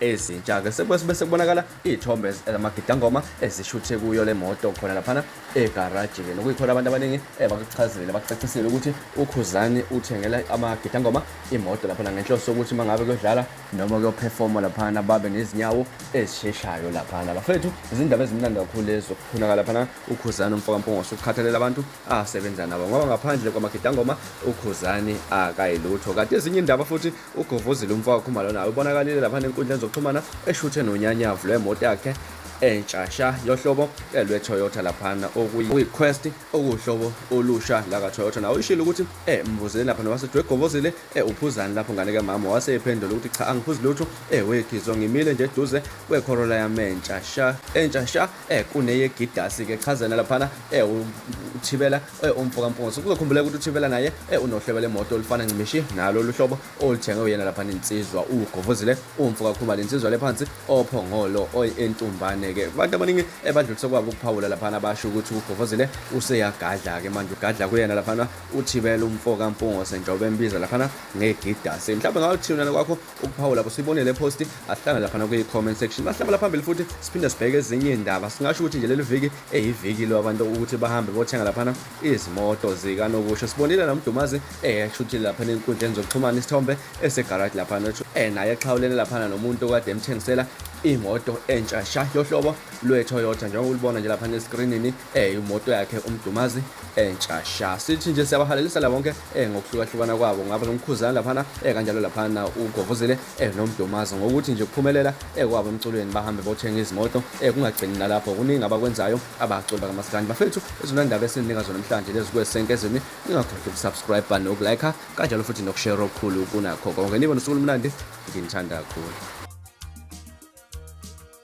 ezintsha-ke sekwesibe sekubonakala iy'thombe zamagidangoma ezishuthe kuyo le moto khona laphana egaraji-ke nokuyikhona abantu abaningi eh, bakuchazile bakucacisile ukuthi ukhuzani uthengela amagidangoma imoto laphana ngenhloso yokuthi uma ngabe kuyodlala noma kuyophefoma laphana babe nezinyawo ezisheshayo laphana bafethu izindaba ezimnandi kakhulu lezi zokukhunaka laphana ukhuzani umfokampongose ukukhathalela abantu asebenza nabo ngoba ngaphandle kwamagidangoma ukhuzani akayilutho kade ezinye indaba futhi Uguvuzile umfowakhe uMalona ubonakalile lapha nenkundleni zokuxhumana eshuthe nonyanyavu lwemoto yakhe entsha sha yohlobo lweToyota laphana okuyi-Quest okuwuhlobo olusha lakaToyota nawo ishilo ukuthi eh mbuzile lapha nowasethi wegobozile eh uphuzani lapho ngane kamama wase ephendula ukuthi cha angiphuzi lutho eh wegizwa ngimile nje eduze kweCorolla yami entsha sha entsha sha eh kuneyegidasi ke chazana laphana eh uthibela eh umfo kampungusi kuzokhumbuleka ukuthi uthibela naye eh unohlebe lemoto olifana ncimishi nalo luhlobo olithenge uyena laphana insizwa ugovuzile umfo kakhumalo insizwa lephansi ophongolo oyentumbane ke abantu abaningi ebadlulise eh, kwabo ukuphawula laphana basho ukuthi ugovuzile useyagadla ke manje ugadla kuyena laphana uthibela umfo kampungusi njengoba embiza laphana ngegidasi mhlawumbe ngawuthiyona kwakho ukuphawula kusibonele post ahlala lapha nakwi comment section bahlabala phambili futhi siphinde sibheke ezinye indaba singasho ukuthi nje leli viki eyiviki lo abantu ukuthi bahambe bothenga laphana izimoto zika nokusho sibonile nomdumazi eheshuthile lapha enkundleni zokuxhumana isithombe esegarage lapha nothi eh naye exhawulene lapha nomuntu kade emthengisela imoto entsha sha yohlobo lwe-Toyota njengoba ulibona nje lapha neskrinini eh imoto yakhe umdumazi entsha eh, sha sithi nje siyabahalelisa la bonke eh ngokuhlukahlukana kwabo ngaba nomkhuzana laphana eh kanjalo laphana ugovuzile eh nomdumazi ngokuthi nje kuphumelela eh kwabo emculweni bahambe bothenga izimoto eh kungagcini nalapho kuningi abakwenzayo abaculi bakamasikandi bafethu izona ndaba esinika zona namhlanje lezi kwesenkezeni ningakhohlwa ukusubscribe bani ukulike kanjalo futhi nokushare okukhulu kunakho konke nibe nosuku olumnandi nginithanda kakhulu